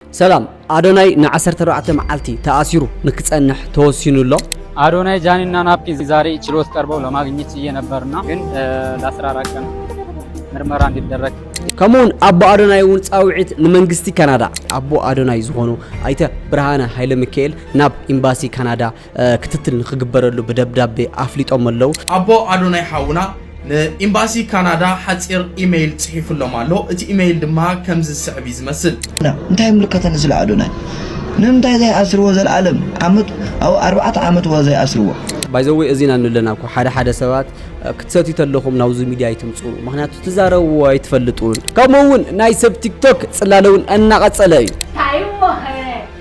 ሰላም ኣዶናይ ን ዓሰርተ ኣርባዕተ መዓልቲ ተኣሲሩ ንክጸንሕ ተወሲኑ ኣሎ። አዶናይ ጃኒ እና ናፒ ዛሬ ችሎት ቀርበው ለማግኘት ችዬ ነበርና ግን ለአስራ አራት ቀን ምርመራ እንዲደረግ ከምኡውን ኣቦ ኣዶናይ እውን ፃውዒት ንመንግስቲ ካናዳ ኣቦ ኣዶናይ ዝኾኑ ኣይተ ብርሃነ ሃይለ ሚካኤል ናብ ኤምባሲ ካናዳ ክትትል ንክግበረሉ ብደብዳቤ ኣፍሊጦም ኣለው። ኣቦ ኣዶናይ ሓውና ንኢምባሲ ካናዳ ሓጺር ኢመይል ጽሒፉሎም ኣሎ። እቲ ኢመይል ድማ ከምዚ ዝስዕብ እዩ ዝመስል። እንታይ ይምልከተኒ ስለ ኣዶናይ ንምንታይ ዘይ ኣስርዎ ዘልኣለም ዓመት ኣብ ኣርባዕተ ዓመት እዋ ዘይ ኣስርዎ። ባይዘወይ እዚ ኢና ንለና እኮ ሓደ ሓደ ሰባት ክትሰትዩ ተለኹም ናብዚ ሚድያ ኣይትምፁ ምክንያቱ ትዛረቡ ኣይትፈልጡን ከምኡ እውን ናይ ሰብ ቲክቶክ ፅላለውን እናቐፀለ እዩ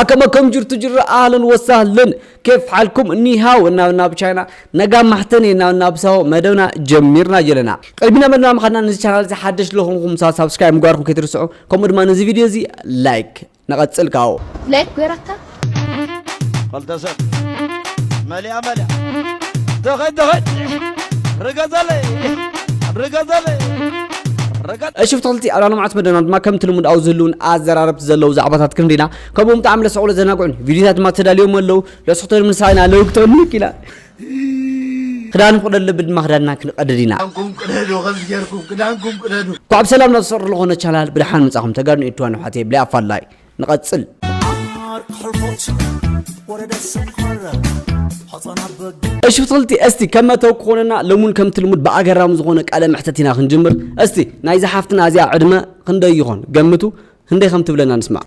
ኣከመ ከም ጅርቱ ጅራ ኣህለን ወሳህለን ኬፍ ሓልኩም ኒሃው እናብ ናብ ቻይና ነጋ ማሕተን እናብ ናብ ሳው መደብና ጀሚርና ጀለና ቀድሚና መደብና ምኻድና ንዚ ቻናል እዚ ሓደሽ ለኹንኩም ሳብስክራይብ ምግባርኩም ከይትርስዑ ከምኡ ድማ ንዚ ቪድዮ እዚ ላይክ ንቐጽል ካብኡ። ላይክ ገይረካ። ኸልተ ሰብ መሊኣ መሊኣ ተኸድ ተኸድ ርገዘለይ ርገዘለይ ርገ እሺ ፍትክልቲ ኣብ ላሎምዓት መደና ድማ ከምቲ ልሙድ ኣብ ዝህልውን ኣዘራረብቲ ዘለዉ ዛዕባታት ክንሪ ኢና ከምኡውን ብጣዕሚ ለሰዕሉ ዘናግዑን ቪድዮታት ድማ ተዳልዮም ኣለዉ ለስክተን ምንሳይና ለውግተን ንክ ኢና ክዳን ክደሉ ኣለብን ድማ ክዳንና ክንቀድድ ኢና ክዳንኩም ቅደዱ ከምዚ ጌርኩም ክዳንኩም ቅደዱ እንኳዕ ብሰላም ናብ ዝሰርሕ ዝኾነ ቻናል ብድሓን ምጻኹም ተጋድኑ ኤድዋን ኣሕዋተይ ብላይ ኣፋላይ ንቐጽል እሺ ፍትልቲ እስቲ ከመተው ክኾነና ለሙን ከምቲ ልሙድ ብኣገራሚ ዝኾነ ቃለ መሕተት ኢና ክንጅምር እስቲ ናይ ዝሓፍትና እዚኣ ዕድመ ክንደይ ይኾን ገምቱ ክንደይ ከም ትብለና ንስማዕ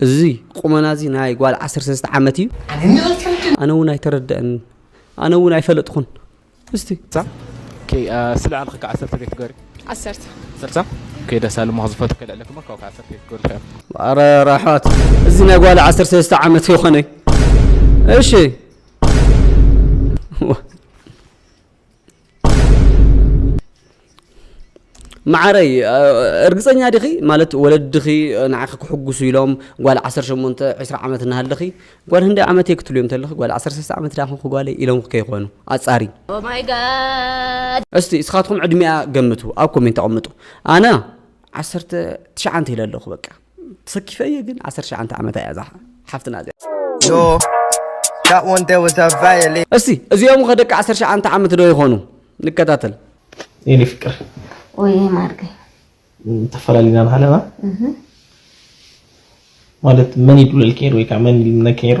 እዚ ቁመና እዚ ናይ ጓል ዓሰርተ ሰለስተ ዓመት እዩ። ኣነ እውን ኣይተረደእንን ኣነ እውን ኣይፈለጥኹን እስቲ ኦኬ ስለ ኣልክ ከ ዓሰርተ ከይ ትገሪ ዓሰርተ ዓሰርተ ኦኬ ደሳሉ ሞኽ ዝፈቱ ከይ ልዕለክ ሞ ካብ ዓሰርተ ከይ ትገሪ ትኸ ኣረ ራሕዋት እዚ ናይ ጓል ዓሰርተ ሰለስተ ዓመት ይኾነ እዩ እሺ መዓረይ እርግፀኛ ዲኺ ማለት ወለድኺ ንዓኺ ክሕጉሱ ኢሎም ጓል 18 20 ዓመት እናሃለኺ ጓል ህንዲ ዓመት እየ ክትልዮም ተለኺ ጓል 13 ዓመት ዳ ኮንኩ ጓለይ ኢሎም ከይኾኑ ኣፃሪ እስቲ እስኻትኩም ዕድሚኣ ገምቱ ኣብ ኮሜንት ኣቐምጡ ኣነ ዓሰርተ ትሽዓንተ ኢለ ኣለኹ በቃ ተሰኪፈ እየ ግን ዓሰርተ ሸዓንተ ዓመታ እያ እዛ ሓፍትና እዚኣ እስቲ እዚኦም ከ ደቂ ዓሰርተ ሸዓንተ ዓመት ዶ ይኾኑ ንከታተል የኔ ፍቅር ወይ ማርገ ተፈላሊና ንሃለና ማለት መን ይዱለል ከይሩ ወይ ከዓ መን ይልምነ ከይሩ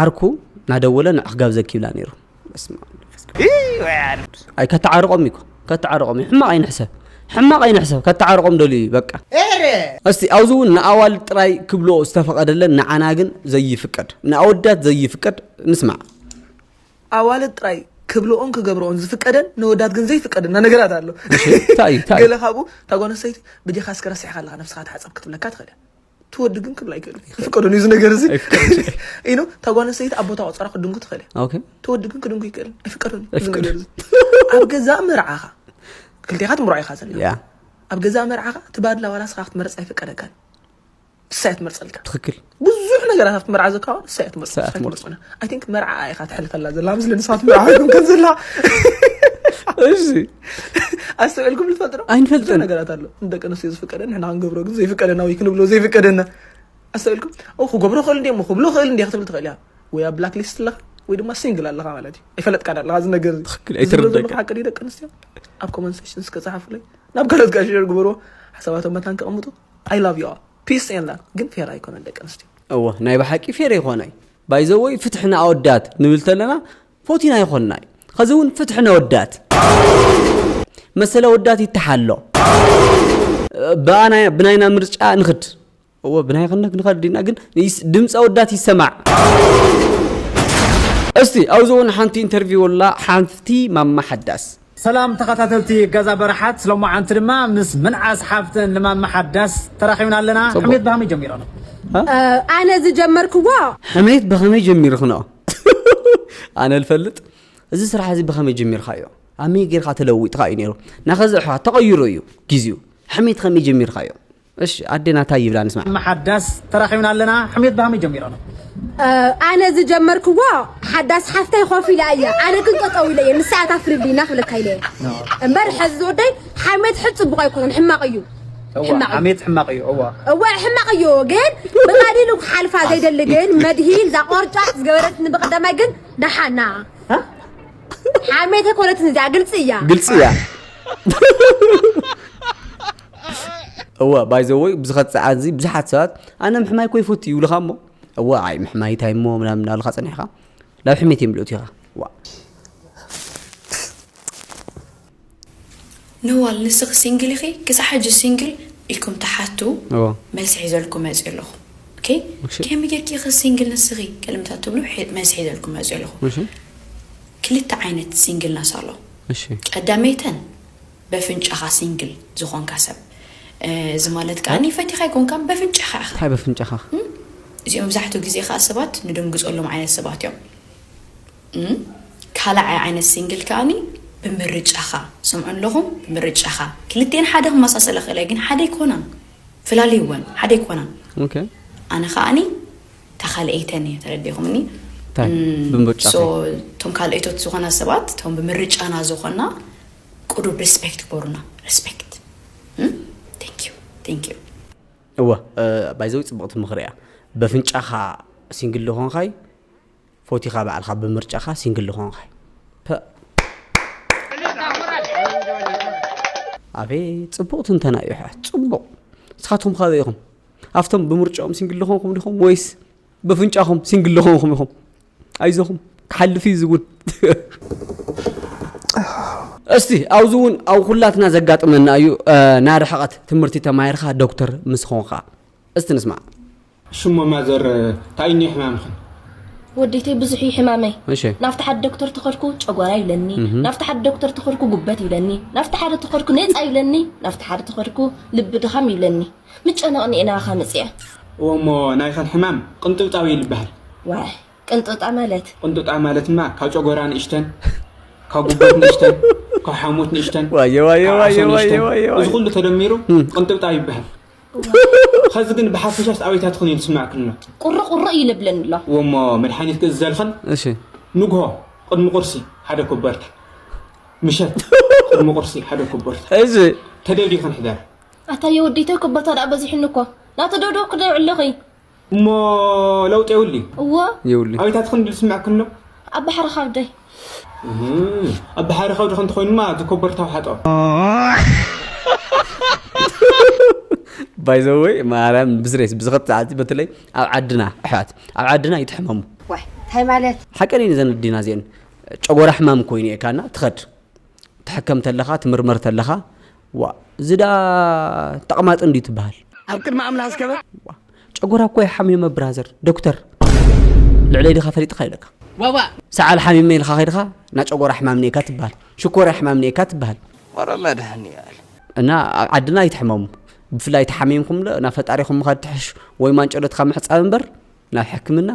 ዓርኩ ናደወለ ንዕኽ ጋብዘኪ ይብላ ነይሩ ኣይ ከተዓርቆም እዩ ከተዓርቆም እዩ ሕማቕ ኣይንሕሰብ ሕማቕ ኣይንሕሰብ ከተዓርቆም ደልዩ እዩ በቃ እስቲ ኣብዚ እውን ንኣዋል ጥራይ ክብሎ ዝተፈቐደለን ንዓና ግን ዘይፍቀድ ንኣወዳት ዘይፍቀድ ንስማዕ ኣዋልድ ጥራይ ክብልኦን ክገብርኦን ዝፍቀደን ንወዳት ግን ዘይፍቀድ እና ነገራት ኣሎ እንታይ እዩ እንታይ ገለ ካብኡ እታ ጓል ኣንስተይቲ ብዲኻ እስከ ረሲዕካ ኣለካ ነብስኻ ተሓፀብ ክትብለካ ትኽእል እያ ትወዲ ግን ክብል ኣይክእሉ ይፍቀደሉ እዚ ነገር እዚ ኢኖ እታ ጓል ኣንስተይቲ ኣብ ቦታ ቆፀራ ክድንኩ ትኽእል እያ ትወዲ ግን ክድንኩ ይክእል ኣይፍቀደሉ እዚ ነገር እዚ ኣብ ገዛእ መርዓኻ ክልቴኻ ትምርዖ ኢኻ ዘለና ኣብ ገዛእ መርዓኻ እቲ ባድላ ዋላ ስኻ ክትመርፅ ኣይፍቀደካን ንሳ እያ ትመርፀልካ ትክክል ብዙሕ ነገራት ኣብቲ መርዓ ዘካዋ ንሳ እያ ትመርፅና ኣይ ቲንክ መርዓ ኢኻ ትሕልፈላ ዘላ ምስሊ ንስኻ ትመርዓ ከም ዘላ እሺ ኣስተውዕልኩም ልትፈልጥ ዶ ኣይንፈልጥን ነገራት ኣሎ ንደቂ ኣንስትዮ ዝፍቀደ ንሕና ክንገብሮ ግን ዘይፍቀደና ወይ ክንብሎ ዘይፍቀደና ኣስተውዕልኩም ኦ ክገብሮ ክእል እንዲ እሞ ክብሎ ክእል እንዲ ክትብል ትኽእል እያ ወይ ኣብ ብላክ ሊስት ኣለኻ ወይ ድማ ሲንግል ኣለኻ ማለት እዩ ኣይፈለጥካ ኣለኻ እዚ ነገር ኣይተረደካ ሓቂ ደቂ ኣንስትዮ ኣብ ኮመን ሴሽን እስከ ጸሓፉለይ ናብ ካልኦት ጋር ሸር ግበርዎ ሓሳባቶም መታን ከቐምጡ ኣይ ላቭ ዩ ፒስ ኤን ላቭ ግን ፌር ኣይኮነን ደቂ ኣንስትዮ እወ ናይ ብሓቂ ፌር ይኮነ ባይዘወይ ፍትሒ ንኣወዳት ንብል ተለና ፎቲና ይኮና እዩ ኸዚ እውን ፍትሒ ነወዳት መሰለ ወዳት ይተሓሎ ብኣና ብናይና ምርጫ ንኽድ እወ ብናይ ክንክ ንኸድ ኢና ግን ድምፀ ወዳት ይሰማዕ እስቲ ኣብዚ እውን ሓንቲ ኢንተርቪው ኣላ ሓንቲ ማማ ሓዳስ ሰላም ተኸታተልቲ ገዛ በረሓት ሎማዓንቲ ድማ ምስ ምንዓስ ሓፍተን ልማማ ሓዳስ ተራኺብና ኣለና ሕሜት ብሃመይ ጀሚረኖ? ኣነ ዝጀመርክዎ። ሕሜት ብኸመይ ጀሚርክኖ? ኣነ ልፈልጥ እዚ ስራሕ እዚ ብኸመይ ጀሚርካዮ? ኣመይ ጌርካ ተለዊጥካ እዩ ነይሩ? ናኸዚ ኣሕዋት ተቐይሩ እዩ ጊዚኡ። ሕሜት ኸመይ ጀሚርካዮ? እሽ ኣዴና ታይ ይብላ ንስማዕ። እመ ሓዳስ ተራኺብና ኣለና ሕሜት ብሃመይ ጀሚሮም። ኣነ ዝጀመርክዎ ሓዳስ ሓፍተይ ኮፍ ኢላ እያ ኣነ ግን ጠጠው ኢለ እየ ንሳ እያ ታፍርልይ እና ክብለካ ኢለ እምበር ሕዚ ዝወደይ ሓሜት ሕድ ፅቡቅ ኣይኮነን ሕማቅ እዩ ሓሜት ሕማቅ እዩ እዋ እዋ ሕማቅ እዩ ግን ብቀሊሉ ክሓልፋ ዘይደሊ ግን መድሂን እዛ ቆርጫጭ ዝገበረትኒ ብቀዳማይ ግን ደሓና ሓሜት ኣይኮነትን እዚኣ ግልፂ እያ ግልፂ እያ እወ ባይ ዘ ወይ ብዝኸት ሰዓት እዚ ብዙሓት ሰባት ኣነ ምሕማይ እኮ ይፈቱ ይብሉኻ እሞ እወ ኣይ ምሕማይ እንታይ እሞ ምናምን እናበልካ ፀኒሕካ ናብ ሕሜት እዮም ልእቱ ኢኻ ዋ ነዋል ንስኺ ሲንግል ኢኺ ክሳብ ሕጂ ሲንግል ኢልኩም ትሓቱ እወ መልሲ ሒዘልኩም መፅኡ ኣለኹ ኦኬ እሺ። ከመይ ጌርኪ ኢኺ ሲንግል ንስኺ ቅድምታት ትብሉ ሒ- መልሲ ሒዘልኩም መፅኡ ኣለኹ እሺ ክልተ ዓይነት ሲንግልነስ ኣሎ እሺ ቀዳመይተን በፍንጫኻ ሲንግል ዝኾንካ ሰብ እዚ ማለት ከኣ ፈቲኻ ኣይኮንካን በፍንጫኻ ኢኻ። ታይ በፍንጫኻ? እዚኦም መብዛሕትኡ ግዜ ከኣ ሰባት ንድንግጸሎም ዓይነት ሰባት እዮም። ካልኣይ ዓይነት ሲንግል ከኣ ብምርጫኻ ስምዑ ኣለኹም ብምርጫኻ ክልቲኤን ሓደ ክመሳሰላ ይኽእላ ግን ሓደ ኣይኮናን ፍላልይወን ሓደ ኣይኮናን። ኦኬ። ኣነ ከኣ እታ ካልኣይተን እየ ተረዲእኹምኒ። ታይ ብምርጫኻ? እቶም ካልኣይቶት ዝኾና ሰባት እቶም ብምርጫና ዝኾና ቁዱብ ሪስፔክት ግበሩና ሪስፔክት ቴንኪው ቴንኪው። እወ ባይዘወይ ጽብቕቲ ምኽሪ እያ በፍንጫኻ ሲንግል ልኾንኻይ ፎቲኻ ባዕልኻ ብምርጫኻ ሲንግል ልኾንኻይ ፐእ ኣቤት ጽቡቕ ትንተና እዩ ኣሕዋት ጽቡቕ ንስኻትኩም ካበይ ኢኹም ኣብቶም ብምርጫኦም ሲንግል ልኾንኩም ዲኹም ወይስ በፍንጫኹም ሲንግል ለኾንኹም ኢኹም ኣይዞኹም ክሓልፍ እዩ ዝውን እስቲ ኣብዚ እውን ኣብ ኩላትና ዘጋጥመና እዩ ናይ ርሕቐት ትምህርቲ ተማሂርካ ዶክተር ምስ ኾንካ እስቲ ንስማዕ ሽሞ ማዘር እንታይ እዩ ሕማምኽን ወዲተይ ብዙሕ እዩ ሕማመይ ናብቲ ሓደ ዶክተር ተኸድኩ ጨጓራ ይብለኒ ናብቲ ሓደ ዶክተር ተኸድኩ ጉበት ይብለኒ ናብቲ ሓደ ተኸድኩ ነፃ ይብለኒ ናብቲ ሓደ ተኸድኩ ልቢ ድኻም ይብለኒ ምጨነቕኒ ኢና ኣኻ መጺኣ። እወ እሞ ናይኸን ሕማም ቕንጥብጣብ እዩ ልበሃል። ዋይ ቅንጥብጣ ማለት? ቕንጥብጣብ ማለትማ ካብ ጨጎራ ንእሽተን፣ ካብ ጉበት ንእሽተን፣ ካብ ሓሞት ንእሽተን፣ ካብ ዓሶ ንእሽተን እዚ ኹሉ ተደሚሩ ቕንጥብጣብ ይበሃል። ኸዚ ግን ብሓፈሻስ ኣበይታ ትኹን እዩ ልስመዐክን እሎ? ቁሪ ቁሪ እዩ ልብለኒ እሎ። እወ እሞ መድሓኒት ክእዝዘልኽን ንግሆ ቕድሚ ቑርሲ ሓደ ኮቦርታ፣ ምሸት ቕድሚ ቑርሲ ሓደ ኮቦርታ ተደልዩ ክንሕደር። ኣታ የወዲተይ እኮ ቦታ ደኣ በዚሑኒ እኮ ናቱ ዶ ዶ ክደይ ዕለኺ እሞ ለውጢ የውሊ እዎ የውሊ ኣቤታት ክንዲ ዝስምዕ ክሎ ኣብ ባሕሪ ካብደይ ኣብ ባሕሪ ከብዲ ከንተ ኮይኑማ እቲ ኮበርታው ሓጦ ባይዘወይ ማርያም ብስሬስ ብዝኸት ሰዓት በተለይ ኣብ ዓድና ኣሕዋት ኣብ ዓድና ይትሕመሙ እንታይ ማለት ሓቀን እዩ ዘን ዲና እዚአን ጨጎራ ሕማም ኮይኑ እካና ትኸድ ትሕከም ተለኻ ትምርመር ተለኻ ዋእ እዚ ደኣ ተቅማጥ እንድዩ ትበሃል። ኣብ ቅድሚ ኣምላኽ ዝከበር። ጨጎራ እኮ ይሓምዩመ ብራዘር ዶክተር ልዕለይ ድካ ፈሊጥካ ኢለካ ዋዋእ ሰዓል ሓሚመ ኢልካ ከይድካ እና ጨጎራ ሕማም ኔካ ትበሃል ሽኮርያ ሕማም ኔካ ትበሃል ወረ መድሃኒኣል እና ኣብ ዓድና ኣይትሕመሙ ብፍላይ ተሓሚምኩም ናብ ፈጣሪኹም ምኻድ ትሕሹ ወይ ማንጨሎትካ ምሕፃብ እምበር ናብ ሕክምና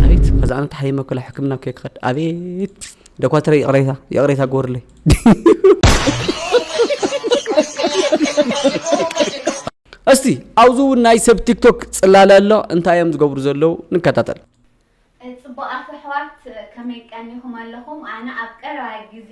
ኣቤት ከዛ ኣነ ተሓይመ ኩላ ሕክምና ከይ ክኸድ ኣቤት ደኳትረ ይቕሬታ ይቕሬታ ግበሩለይ እስቲ ኣብዚ እውን ናይ ሰብ ቲክቶክ ፅላለ ኣሎ እንታይ እዮም ዝገብሩ ዘለዉ ንከታተል ፅቡቃት ኣሕዋት ከመይ ቀኒኹም ኣለኹም ኣነ ኣብ ቀረባ ግዜ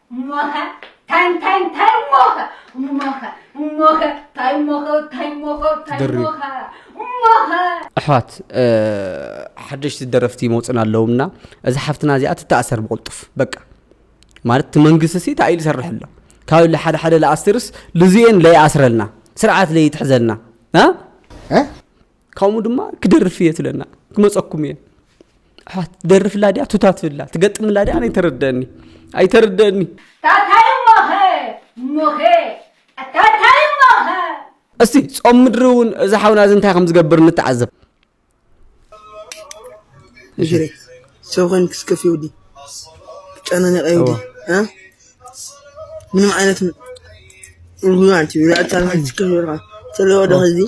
እሞኸ ታይ እንታይ እንታይ እሞኸ እሞኸ እሞኸ ታይ እሞኸ ታይ እሞኸ ታይ ድሪ። እሞኸ እሞኸ ኣሕዋት እ፣ ሓደሽቲ ደረፍቲ ይመፁና ኣለውና እዚ ሓፍትና እዚኣ ትተኣሰር ብቕልጡፍ በቃ ማለት እቲ መንግስቲ ሲ እንታይ ኢሉ ይሰርሕ ኣሎ ካብ ለ ሓደ ሓደ ለኣስትርስ ልዝኤን ለይኣስረልና ስርዓት ለይትሕዘልና እ? እ? ካብኡ ድማ ክደርፍ እየ ትብለና ክመፀኩም እየ ኣሕዋት ደርፍላ ድያ ቱታ ትብላ ትገጥምላ ድያ ኣነ ኣይተረደአኒ ኣይተረደአኒ ታታይ እሞኸ እሞኸ ኣታታይ እሞኸ እስቲ ጾም ምድሪ እውን እዚ ሓውና እዚ እንታይ ከም ዝገብር ንተዓዘብ እሽሬ ሰው ኮይን ክስከፍ ይውዲ ትጨናነቀ ይውዲ ምንም ዓይነት ይሁን አንቺ ዛቻ ማለት ክፍል ተለወደ ከዚህ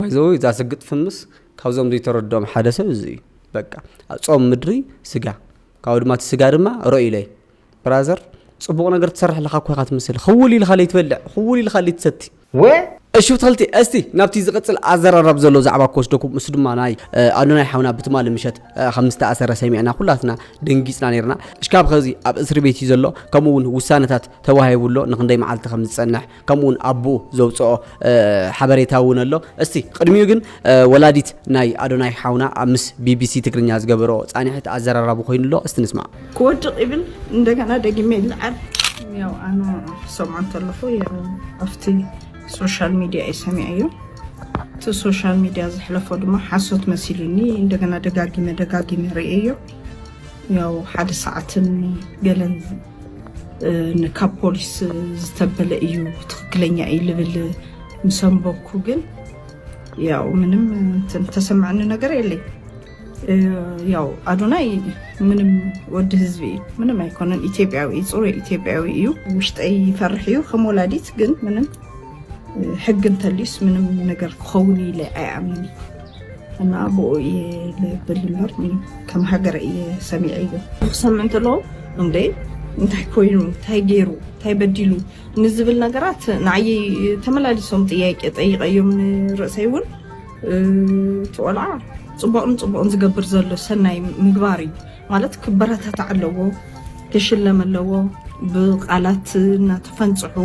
ባይዘወይ እዛ ስግጥ ፍምስ ካብዞም ዘይተረድኦም ሓደ ሰብ እዚ እዩ በቃ ጾም ምድሪ ስጋ ካብኡ ድማ እቲ ስጋ ድማ ርእዩ ኢለይ ብራዘር ጽቡቕ ነገር ትሰርሕ ኣለካ እኮ ኢኻ ትምስል ክውል ኢልካ ለይ ትበልዕ ክውል ኢልካ ለይ ትሰቲ ወ እሺ ተኸልቲ እስቲ ናብቲ ዝቕጽል ኣዘራራብ ዘሎ ዛዕባ ክወስደኩም ምስ ድማ ናይ ኣዶናይ ሓውና ብትማሊ ምሸት ከም ዝተኣሰረ ሰሚዕና ኩላትና ደንጊጽና ነርና እሽካብ ኸዚ ኣብ እስሪ ቤት እዩ ዘሎ ከምኡ እውን ውሳነታት ተዋሂቡሎ ንክንደይ መዓልቲ ከም ዝጸንሕ ከምኡውን ኣቡኡ ዘውጽኦ ሓበሬታ እውን ኣሎ። እስቲ ቅድሚኡ ግን ወላዲት ናይ ኣዶናይ ሓውና ኣብ ምስ ቢቢሲ ትግርኛ ዝገበሮ ጻኒሕት ኣዘራራቡ ኮይኑ ኣሎ። እስቲ ንስማዕ። ክወድቕ ይብል እንደገና ደጊመ ይልዓል። ያው ኣነ ክሰምዖ እንተለኹ ያው ኣብቲ ሶሻል ሚድያ እዩ ሰሚዐዮ እቲ ሶሻል ሚድያ ዘሕለፎ ድማ ሓሶት መሲሉኒ እንደገና ደጋጊመ ደጋጊመ ርእየዮ ያው ሓደ ሰዓትን ገለን ካብ ፖሊስ ዝተበለ እዩ ትክክለኛ እዩ ልብል ምሰንበኩ ግን ያው ምንም ተሰማዕኒ ነገር የለይ ያው ኣዶናይ ምንም ወዲ ህዝቢ እዩ ምንም ኣይኮነን ኢትዮጵያዊ እዩ ፅሩይ ኢትዮጵያዊ እዩ ውሽጠይ ይፈርሕ እዩ ከም ወላዲት ግን ምንም ሕግ እንተልዩስ ምንም ነገር ክኸውን ኢለ ኣይኣምን እና ብኡ እየ ልብል እምበር ከም ሃገረ እየ ሰሚዐ እዩ ክሰምዕ እንተሎ እንደ እንታይ ኮይኑ እንታይ ገይሩ እንታይ በዲሉ ንዝብል ነገራት ንዓይ ተመላሊሶም ጥያቄ ጠይቀዮም ንርእሰይ እውን እቲ ቆልዓ ፅቡቕን ፅቡቕን ዝገብር ዘሎ ሰናይ ምግባር እዩ ማለት ክበረታታዕ ኣለዎ ክሽለም ኣለዎ ብቃላት እናተፈንፅሑ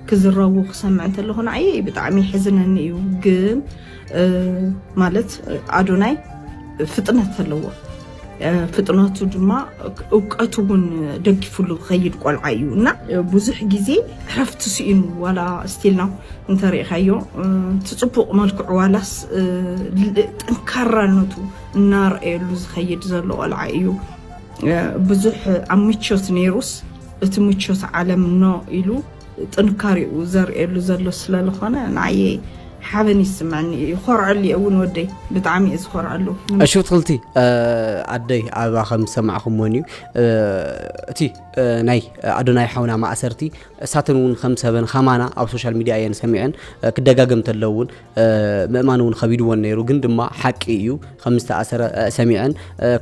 ክዝረቡ ክሰምዕ እንተለኹ ንዓየይ ብጣዕሚ ይሕዝነኒ እዩ ግን ማለት ኣዶናይ ፍጥነት ኣለዎ ፍጥነቱ ድማ እውቀቱ እውን ደጊፉሉ ዝኸይድ ቆልዓ እዩ እና ብዙሕ ግዜ ዕረፍቲ ስኢኑ ዋላ ስቲልና እንተሪእኻዮ እቲ ፅቡቕ መልክዑ ዋላስ ጠንካራነቱ እናርአየሉ ዝኸይድ ዘሎ ቆልዓ እዩ ብዙሕ ኣብ ምቾት ነይሩስ እቲ ምቾት ዓለም ኖ ኢሉ ጥንካሬኡ ዘርእየሉ ዘሎ ስለልኾነ ንዓየ ሓበን ይስመዐኒ እዩ ይኾርዐሉ እየ እውን ወደይ ብጣዕሚ እየ ዝኾርዐሉ እሺ ብትክልቲ ኣደይ ኣበባ ከም ዝሰማዕኹምዎን እዩ እቲ ናይ ኣዶናይ ሓውና ማእሰርቲ እሳተን እውን ከም ሰበን ከማና ኣብ ሶሻል ሚድያ እየን ሰሚዐን ክደጋገም ተለውን ምእማን እውን ከቢድዎን ነይሩ ግን ድማ ሓቂ እዩ ከም ዝተኣሰረ ሰሚዐን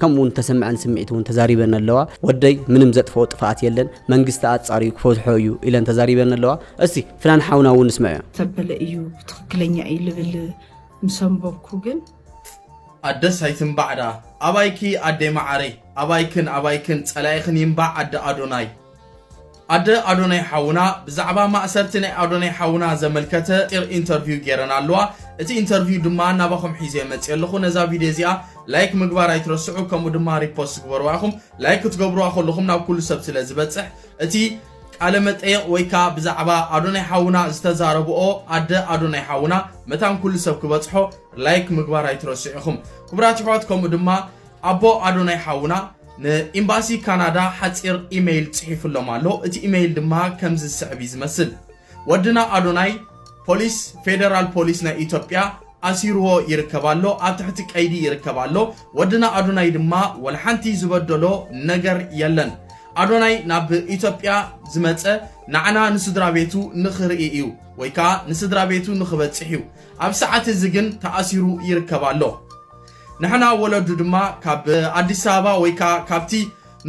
ከምኡ እውን ተሰምዐን ስምዒት እውን ተዛሪበን ኣለዋ ወደይ ምንም ዘጥፍኦ ጥፍኣት የለን መንግስቲ ኣፃርዩ ክፈትሖ እዩ ኢለን ተዛሪበን ኣለዋ እስቲ ፍናን ሓውና እውን ንስምዐ ተበለ እዩ ትክክለኛ እዩ ልብል ምሰንበብኩ ግን ኣደስ ኣይትንባዕ ደኣ ኣባይኪ ኣደይ መዓረይ ኣባይክን ኣባይክን ጸላኢኽን ይንባዕ ኣደ ኣዶናይ። ኣደ ኣዶናይ ሓውና ብዛዕባ ማእሰርቲ ናይ ኣዶናይ ሓውና ዘመልከተ ጢር ኢንተርቪው ገይረን ኣለዋ እቲ ኢንተርቪው ድማ ናባኹም ሒዘ መፅእ ኣለኹ ነዛ ቪድዮ እዚኣ ላይክ ምግባር ኣይትረስዑ ከምኡ ድማ ሪፖስት ግበርዋ ኢኹም ላይክ ክትገብርዋ ከለኹም ናብ ኩሉ ሰብ ስለ ዝበፅሕ እቲ ቃለ መጠየቕ ወይ ከዓ ብዛዕባ ኣዶናይ ሓውና ዝተዛረብኦ ኣደ ኣዶናይ ሓውና መታን ኩሉ ሰብ ክበፅሖ ላይክ ምግባር ኣይትረስዑ ኢኹም ክቡራት ይሕዋት ከምኡ ድማ ኣቦ ኣዶናይ ሓውና ን ኢምባሲ ካናዳ ሓጺር ኢመይል ጽሒፉሎም ኣሎ እቲ ኢመይል ድማ ከምዚ ዝስዕብ እዩ ዝመስል ወድና ኣዶናይ ፖሊስ ፌደራል ፖሊስ ናይ ኢትዮጵያ ኣሲርዎ ይርከብ ኣሎ ኣብ ትሕቲ ቀይዲ ይርከብ ኣሎ ወድና ኣዶናይ ድማ ወልሓንቲ ዝበደሎ ነገር የለን ኣዶናይ ናብ ኢትዮጵያ ዝመጸ ናዕና ንስድራ ቤቱ ንኽርኢ እዩ ወይ ከዓ ንስድራ ቤቱ ንኽበጽሕ እዩ ኣብ ሰዓት እዚ ግን ተኣሲሩ ይርከብ ኣሎ ንሕና ወለዱ ድማ ካብ ኣዲስ ኣበባ ወይ ከኣ ካብቲ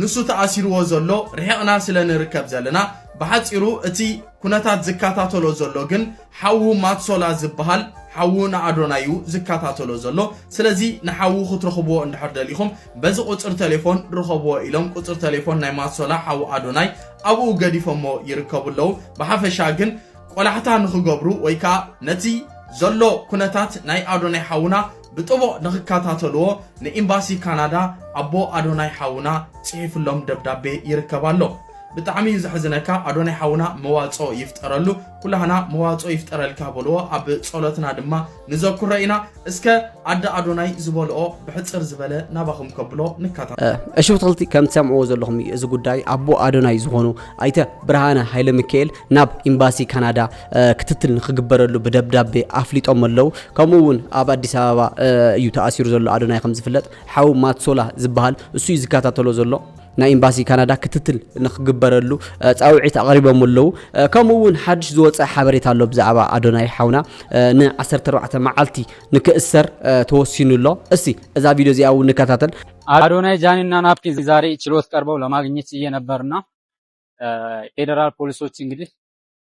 ንሱ ተኣሲርዎ ዘሎ ርሒቕና ስለ ንርከብ ዘለና ብሓጺሩ እቲ ኩነታት ዝከታተሎ ዘሎ ግን ሓዉ ማትሶላ ዝበሃል ሓዉ ንኣዶናይ እዩ ዝከታተሎ ዘሎ ስለዚ ንሓዉ ክትረኽብዎ እንድሕር ደሊኹም በዚ ቁጽሪ ቴሌፎን ርኸብዎ ኢሎም ቁጽሪ ቴሌፎን ናይ ማትሶላ ሓዉ ኣዶናይ ኣብኡ ገዲፎሞ ይርከቡ ኣለዉ ብሓፈሻ ግን ቆላሕታ ንኽገብሩ ወይ ከዓ ነቲ ዘሎ ኩነታት ናይ ኣዶናይ ሓውና ብጥቡቕ ንኽከታተልዎ ንኢምባሲ ካናዳ ኣቦ ኣዶናይ ሓውና ጽሒፍሎም ደብዳቤ ይርከብ ኣሎ። ብጣዕሚ እዩ ዘሕዝነካ ኣዶናይ ሓውና መዋጽኦ ይፍጠረሉ ኩላህና መዋጽኦ ይፍጠረልካ በልዎ ኣብ ጸሎትና ድማ ንዘኩሮ ኢና እስከ ኣደ ኣዶናይ ዝበልኦ ብሕጽር ዝበለ ናባኹም ከብሎ ንካታ እሺ ብትኽልቲ ከም ትሰምዕዎ ዘለኹም እዩ እዚ ጉዳይ ኣቦ ኣዶናይ ዝኾኑ ኣይተ ብርሃነ ሃይለ ሚካኤል ናብ ኤምባሲ ካናዳ ክትትል ንክግበረሉ ብደብዳቤ ኣፍሊጦም ኣለው። ከምኡ እውን ኣብ ኣዲስ ኣበባ እዩ ተኣሲሩ ዘሎ ኣዶናይ ከምዝፍለጥ ሓው ማትሶላ ዝበሃል እሱ እዩ ዝከታተሎ ዘሎ። ናይ ኤምባሲ ካናዳ ክትትል ንክግበረሉ ፃውዒት ኣቕሪቦም ኣለዉ ከምኡ እውን ሓድሽ ዝወፀ ሓበሬታ ኣሎ ብዛዕባ ኣዶናይ ሓውና ን14 መዓልቲ ንክእሰር ተወሲኑ ኣሎ እስቲ እዛ ቪድዮ እዚኣ እውን ንከታተል አዶናይ ጃኒ እና ናፒ ዛሬ ችሎት ቀርበው ለማግኘት እየነበርና ፌዴራል ፖሊሶች እንግዲህ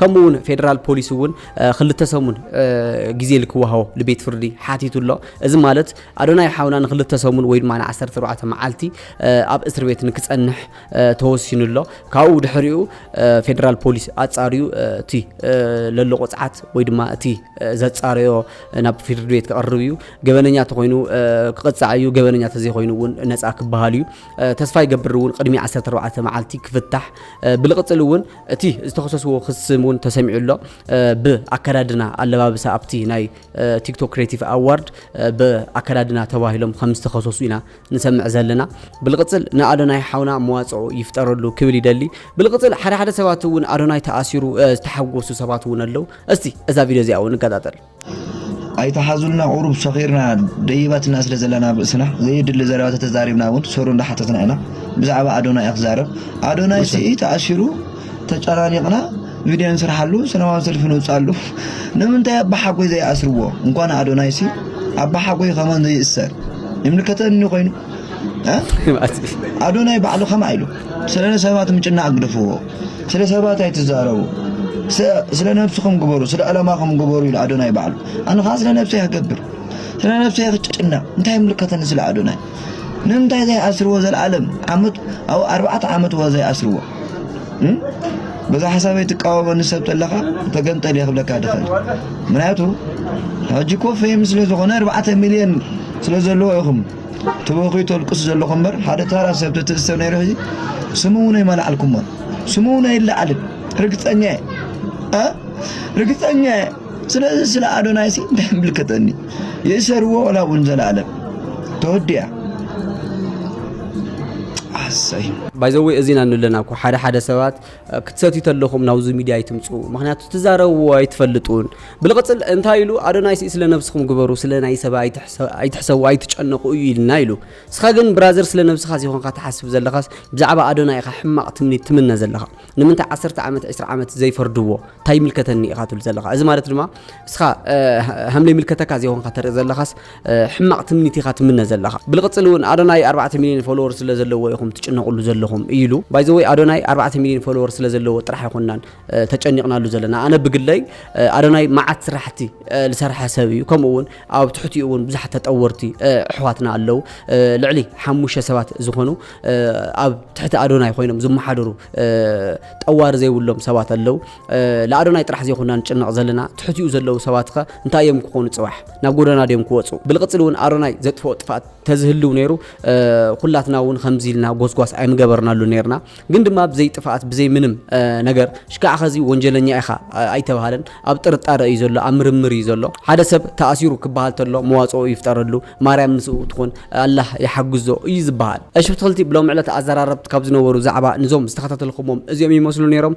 ከምኡ እውን ፌደራል ፖሊስ እውን ክልተ ሰሙን ግዜ ልክወሃቦ ልቤት ፍርዲ ሓቲቱ ኣሎ እዚ ማለት ኣዶናይ ሓውና ንክልተ ሰሙን ወይ ድማ ንዓሰርተ ኣርባዕተ መዓልቲ ኣብ እስር ቤት ንክፀንሕ ተወሲኑ ኣሎ ካብኡ ድሕሪኡ ፌደራል ፖሊስ ኣፃርዩ እቲ ለሎ ቆፅዓት ወይ ድማ እቲ ዘፃረዮ ናብ ፍርድ ቤት ክቐርብ እዩ ገበነኛ ተኮይኑ ክቕፃዕ እዩ ገበነኛ ተዘይኮይኑ እውን ነፃ ክበሃል እዩ ተስፋ ይገብር እውን ቅድሚ 14 መዓልቲ ክፍታሕ ብልቕፅል እውን እቲ ዝተኸሰስዎ ክሲ እውን ተሰሚዑ ኣሎ። ብ ኣከዳድና ኣለባብሳ ኣብቲ ናይ ቲክቶክ ክሬቲቭ ኣዋርድ ብ ኣከዳድና ተባሂሎም ከም ዝተኸሰሱ ኢና ንሰምዕ ዘለና። ብልቅፅል ን ኣዶናይ ሓውና መዋፅኦ ይፍጠረሉ ክብል ይደሊ። ብልቅፅል ሓደ ሓደ ሰባት እውን ኣዶናይ ተኣሲሩ ዝተሓጎሱ ሰባት እውን ኣለው። እስቲ እዛ ቪድዮ እዚኣ እውን ንከታተል። ኣይትሓዙልና ቁሩብ ሰኺርና ደይባትና ስለ ዘለና ኣብ ርእስና ዘየድሊ ዘረባ ተተዛሪብና እውን ሰሩ እንዳሓተትና ኢና ብዛዕባ ኣዶናይ እያ ክዛረብ ኣዶናይ ስኢ ተኣሲሩ ተጨናኒቕና ቪድዮ ንስርሓሉ ሰላማዊ ሰልፊ ንውፅኣሉ ንምንታይ ኣባሓጎይ ዘይኣስርዎ እንኳን ኣዶናይ ሲ ኣባሓጎይ ከመን ዘይእሰር ይምልከተኒ ኮይኑ ኣዶናይ ባዕሉ ከማ ኢሉ ስለ ሰባት ምጭናቕ ግደፍዎ ስለ ሰባት ኣይትዛረቡ ስለ ነብስኹም ግበሩ ስለ ዕላማኹም ግበሩ ኢሉ ኣዶናይ ባዕሉ ኣነ ከዓ ስለ ነብሰይ ክገብር ስለ ነብሰይ ክጭነቕ እንታይ ምልከተኒ ስለ ኣዶናይ ንምንታይ ዘይኣስርዎ ዘለዓለም ዓመት ኣብ ኣርባዕተ ዓመት ወ ዘይኣስርዎ በዛ ሓሳበይ ትቃወመኒ ሰብ ተለኻ ተገንጠል እየ ክብለካ ድኽእል ምክንያቱ ሕጂ ኮ ፌም ስለ ዝኾነ ኣርባዕተ ሚልዮን ስለ ዘለዎ ኢኹም ትበኽዩ ተልቅሱ ዘለኹም እምበር ሓደ ታራ ሰብ ተትእሰር ነይሩ ሕዚ ስሙ እውን ኣይመላዕልኩሞን ስሙ እውን ኣይለዓልን ርግፀኛ እየ ርግፀኛ እየ ስለዚ ስለ ኣዶናይ ሲ እንታይ ምልከተኒ ይእሰርዎ ወላ እውን ዘለኣለም ተወዲያ ኣሰይ ባይዘወይ እዚና ንለና እኮ ሓደ ሓደ ሰባት ክትሰትዩ ተለኹም ናብዚ ሚድያ ኣይትምፁ ምክንያቱ ትዛረብዎ ኣይትፈልጡን ብልቕፅል እንታይ ኢሉ ኣዶናይስ ስለ ነብስኹም ግበሩ ስለ ናይ ሰባ ኣይትሕሰቡ ኣይትጨነቁ እዩ ኢልና ኢሉ እስኻ ግን ብራዘር ስለ ነብስኻ ዘይኮንካ ትሓስብ ዘለኻስ ብዛዕባ ኣዶናይ ኢኻ ሕማቕ ትምኒት ትምነ ዘለኻ ንምንታይ ዓሰርተ ዓመት ዕስራ ዓመት ዘይፈርድዎ እንታይ ይምልከተኒ ኢኻ ትብል ዘለኻ እዚ ማለት ድማ እስኻ ሃምለ ይምልከተካ ዘይኮንካ ተርኢ ዘለኻስ ሕማቅ ትምኒት ኢኻ ትምነ ዘለኻ ብልቅፅል እውን ኣዶናይ ኣርባዕተ ሚልዮን ፎሎወር ስለ ዘለዎ ኢኹም ትጭነቁሉ ዘለኹም ኢሉ ባይዘወይ ኣዶናይ ኣርባዕተ ሚልዮን ፎሎወር ስለ ዘለዎ ጥራሕ ኣይኮናን ተጨኒቅናሉ ዘለና ኣነ ብግለይ ኣዶናይ መዓት ስራሕቲ ዝሰርሐ ሰብ እዩ ከምኡ እውን ኣብ ትሕቲኡ እውን ብዙሓት ተጠወርቲ ኣሕዋትና ኣለው ልዕሊ ሓሙሽተ ሰባት ዝኾኑ ኣብ ትሕቲ ኣዶናይ ኮይኖም ዝመሓደሩ ጠዋሪ ዘይብሎም ሰባት ኣለው ልኣዶናይ ጥራሕ ዘይኮና ንጭነቕ ዘለና ትሕቲኡ ዘለዉ ሰባትኸ እንታይ እዮም ክኾኑ ጽባሕ ናብ ጎደና ድዮም ክወጹ ብልቕጽል እውን ኣዶናይ ዘጥፍኦ ጥፍኣት ተዝህልው ነይሩ ኩላትና እውን ከምዚ ኢልና ጎስጓስ ኣይምገበርናሉ ነርና ግን ድማ ብዘይ ጥፍኣት ብዘይ ምንም ነገር ሽካዕ ኸዚ ወንጀለኛ ኢኻ ኣይተባሃለን ኣብ ጥርጣረ እዩ ዘሎ ኣብ ምርምር እዩ ዘሎ ሓደ ሰብ ተኣሲሩ ክበሃል ተሎ መዋጽኦ ይፍጠረሉ ማርያም ምስኡ ትኹን ኣላህ ይሓግዞ እዩ ዝበሃል እሺ ብትኽልቲ ብሎም ዕለት ኣዘራረብት ካብ ዝነበሩ ዛዕባ ንዞም ዝተኸታተልኩሞም እዚኦም ይመስሉ ነይሮም